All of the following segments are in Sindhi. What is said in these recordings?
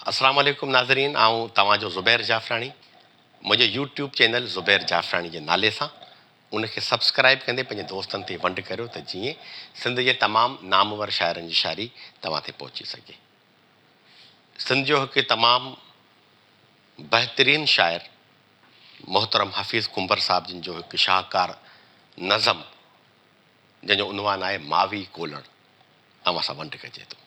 اسلام عليڪم ناظرين آئون توهان جو زبير جعفراڻي منهنجي YouTube channel Zubair Jafrani جي نالي سان ان کي سبسڪرائب ڪندي پنهنجي دوستن تي ونڊ ڪريو ته جيئن سنڌ جي تمام نامور شاعرن جي شاعري توهان تي پهچي سگهي سنڌ جو هڪ تمام بهترين شاعر محترم حفيظ ڪنڀر صاحب جن جو هڪ شاهڪار نظم جنهن جو عنوان آهي ماوي ڪولڙ اوهان سان ونڊ ڪجي ٿو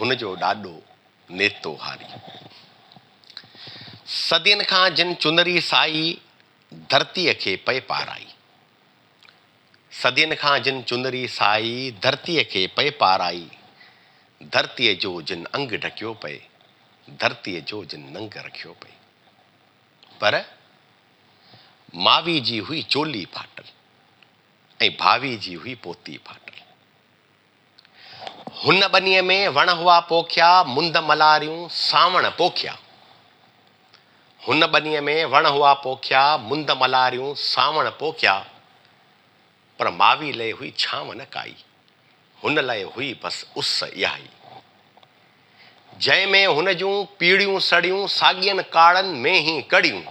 هن جو ڏاڏو نيتو هاري صدين کان جن چنري سائي ڌرتيء کي پئي پارائي صدين کان جن چنري سائي ڌرتيء کي پئي پارائي ڌرتيء جو جن انگ ڍڪيو پئي ڌرتيء جو جن ننگ رکيو پئي پر ماوي جي هئي چولي ڦاٽل ۽ ڀاوي جي هئي پوتي ڦاٽل. هن ٻنيء ۾ وڻ هئا پوکيا، مند ملاريون سانوڻ پوکيا. هن ٻنيء ۾ وڻ هئا پوکيا، مند ملاريون سانوڻ پوکيا، پر ماوي لئه هئي ڇانو نه ڪائي، هن لئه هئي بس اس اهائي. جنهن ۾ هن جون پيڙهيون سڙيون، ساڳين ڪاڙهن ۾ هي ڪڙهيون.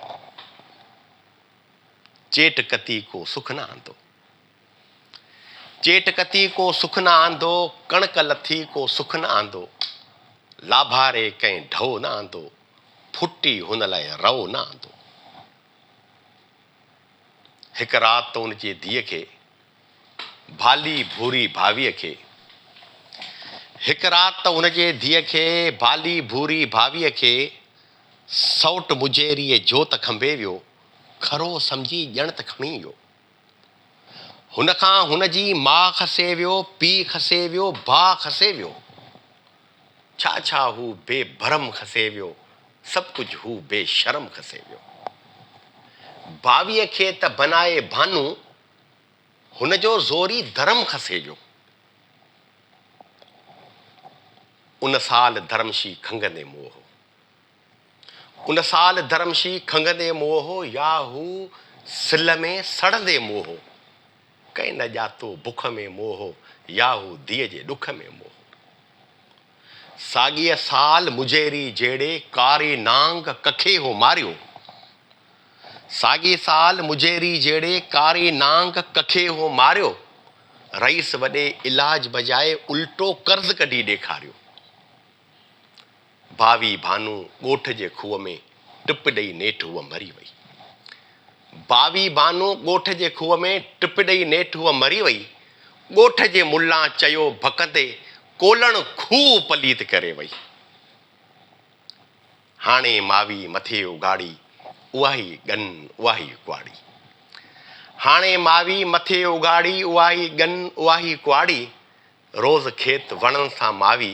چيٽ ڪتي ڪو سک نه آندو. چيٽ ڪتي ڪو سک نه آندو، ڪڻڪ لٿي ڪو سک نه آندو، لاڀاري ڪنهن ڍؤ نه آندو، ڦٽي هن لاء رئو نه آندو. هڪ رات ان جي ڌيء کي ڀالي ڀوري ڀاويء کي هڪ رات ته ان جي ڌيء کي ڀالي ڀوري ڀاويء کي سئوٽ مجيريء جوت کنڀي ويو، کرو سمجهي ڄڻ ته کڻي ويو. هن کان هن جي ماء کسي ويو، پيء کسي ويو، ڀاء کسي ويو. ڇا ڇا هو بي ڀرم کسي ويو، سڀ ڪجهه هو بي شرم کسي ويو. باويء کي ته بنائي ڀانو، هن جو زوري ڌرم کسي ويو. ان سال ڌرمشي کنگهندي موهه. ان سال درم شي کنگهندي موهه هو يا هو سل ۾ سڙندي موهه هو. ڪنهن نه ڄاتو بک ۾ موهه هو يا هو ڌيء جي ڏک ۾ موهه هو. ساڳيء سال مجيري جهيڙي ڪاري نانگ ڪکي هو ماريو. ساڳيء سال مجيري جهيڙي ڪاري نانگ ڪکي هو ماريو. رئيس وڏي علاج بجاء الٽو قرض ڪڍي ڏيکاريو. ڀاوي ڀانو ڳوٺ جي کوهه ۾ ٽپ ڏئي نيٺ هوء مري وئي. ڀاوي ڀانو ڳوٺ جي کوهه ۾ ٽپ ڏئي نيٺ هوء مري وئي. ڳوٺ جي ملان چيو ڀڪندي ڪولڻ کوهه پليت ڪري وئي. هاڻي ماوي مٿي اگهاڙي اهائي ڳن اهائي ڪهاڙي. هاڻي ماوي مٿي اگهاڙي اهائي ڳن اهائي ڪهاڙي. روز کيت وڻن سان ماوي